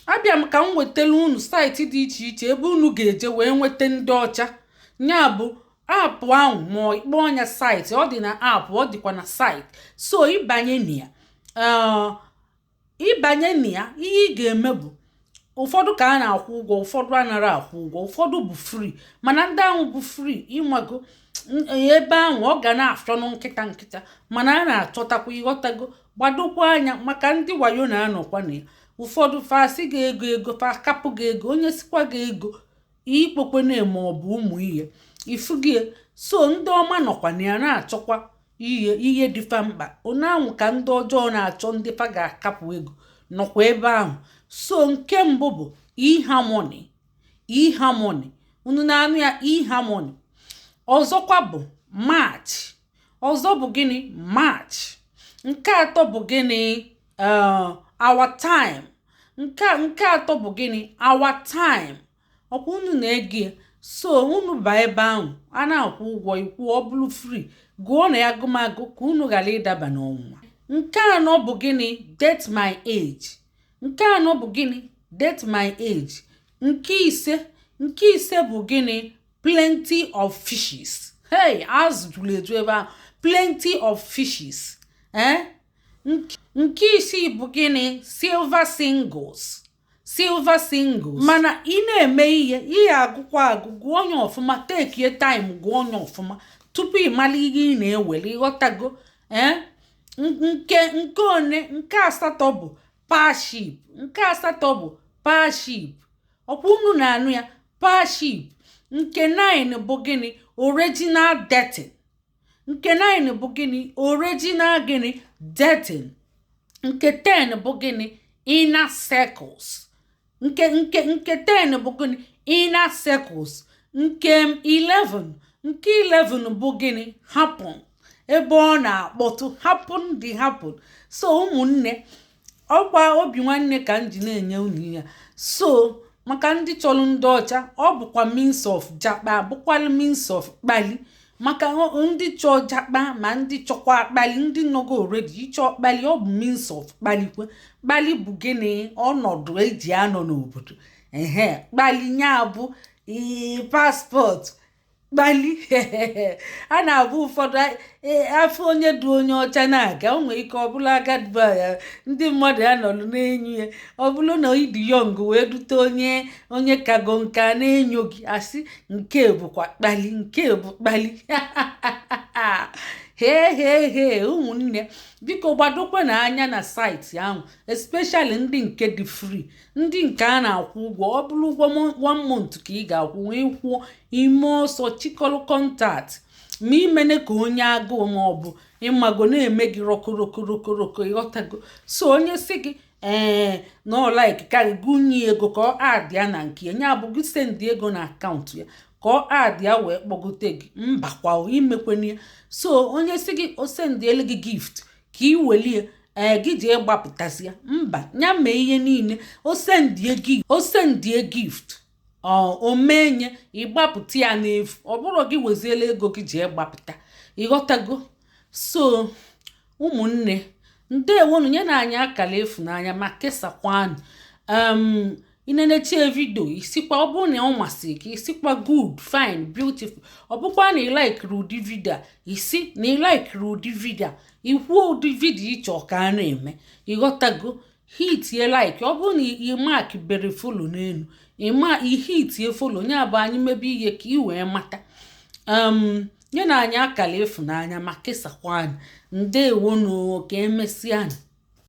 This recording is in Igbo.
abịa m ka m wetara unu site dị iche iche ebe unu ga-eje wee nweta ndị ọcha ya bụ app ahụ ma ị kpọọ nya site ọ dị na app ọ dịkwa na site so ị banye na ya uh, ị banye na ya ihe ị ga-eme bụ ụfọdụ ka a na-akwụ ụgwọ ụfọdụ anara akwụ ụgwọ ụfọdụ bụ free mana ndị ahụ bụ free ị mago ebe ahụ ọ ga na-afịọnụ nkịta nkịta mana a na-achọtakwa ị ghọtago gbadokwa anya maka ndị wayo na-anọkwa na ya ụfọdụ fa sị gị ego ego fa kapụ gị ego onye sikwa gị ego ikpokwe na-eme ọ bụ ụmụ ihe ifu gị so ndị ọma nọkwa na ya na-achọkwa ihe ihe dị fa mkpa otu ahụ ka ndị ọjọọ na-achọ ndị fa ga-akapụ ego nọkwa ebe ahụ so nke mbụ bụ eharmony eharmony unu na-anụ ya eharmony ọzọkwa bụ match ọzọ bụ gịnị match nke atọ bụ gịnị uh, our time nke nke atọ bụ gịnị our time ọkwa unu na-ege so unu ba ebe ahụ a na-akwụ ụgwọ ị kwụọ ọ bụrụ free gụọ na ya agụmagụ ka unu ghara ịdaba n'ọnwụnwa nke anọ bụ gịnị date my age nke anọ bụ gịnị date my age nke ise nke ise bụ gịnị plenty of fishes hey azụ juru eju ebe ahụ plenty of fishes eh? nke isii bụ gịnị silver singles silver singles mana ị na-eme ihe ihe agụkwa agụ gụọ onye ọfụma takie time gụọ onye ọfụma tupu ị mara ihe ị na-ewere ị ghọtago ee eh? nke nke one nke asatọ bụ parship nke asatọ bụ parship ọkwa unu na-anụ ya parship nke 9 bụ gịnị original dating nke 9 bụ gịnị original gịnị dating nke 10 bụ gịnị inner circles nke nke nke 10 bụ gịnị inner circles nke 11 nke 11 bụ gịnị happen ebe ọ na-akpọtụ happen dị happen so ụmụnne ọkwa obi nwanne ka m ji na-enye unu ya so maka ndị chọrọ ndị ọcha ọ bụkwa means of jakpa bụkwalụ means of kpali maka ndị chọọ jakpa ma ndị chọkwa kpali ndị nọgo already ịchọ kpali ọ bụ means of kpalikwe kpali bụ gịnị ọnọdụ e ji anọ n'obodo ehe kpali nya bụ passport kpali a na-abụ ụfọdụ e, afụ onye du onye ọcha na-aga o nwere ike ọ bụrụ agadi nwaanyị ndị mmadụ ya nọrọ na-enyo ya ọ bụrụ na ị dị young wee dute onye kago nka na-enyo gị asị nke a bụkwa kpali nke a bụ kpali hee hee hee ụmụnne biko gbadokwanụ anya na site ahụ especially ndị nke dị free ndị nke a na-akwụ ụgwọ ọ bụrụ ụgwọ one month ka ị ga-akwụ wee kwụọ i mee ọsọ chịkọrọ contact ma imene ka onye agụụ ma ọ bụ ịmago na-eme gị rọkorokorokoro ị ghọtago so onye si gị ee na ọ likeka gị gị nye ego ka ọ add ya na nke ya nya bụ gị send ego na account ya ka ọ add ya wee kpọgote gị mbakwa imekwana ya so onye si gị o sendielu gị gift ka i welie ego gị jee gbapụtazia mba ya mee ihe niile o sendie gị o sendie gift o menye ị gbapụta ya n'efu ọ bụrụ gị weziela ego gị jee gbapụta ị ghọtago so ụmụnne ndewonu nyenụ anyị akara ịfụnanya ma kesakwanụ i nenechaa video ị sịkwa ọ bụrụ na ọ masịrị gị ị sịkwa good fine beautiful ọ bụkwa na ị laikiri ụdị video a ị sị na ị laikiri ụdị video a i kwuo ụdị video ị chọ ka a na-eme ị ghọtago hitie like ọ bụrụ na ị mak bere follow n'elu i hitie follow nya bụ anyị mebe ihe ka ị wee mata nyenụ anyị akara ịfụnanya ma kesakwa anyị ndewonu ka emesịanụ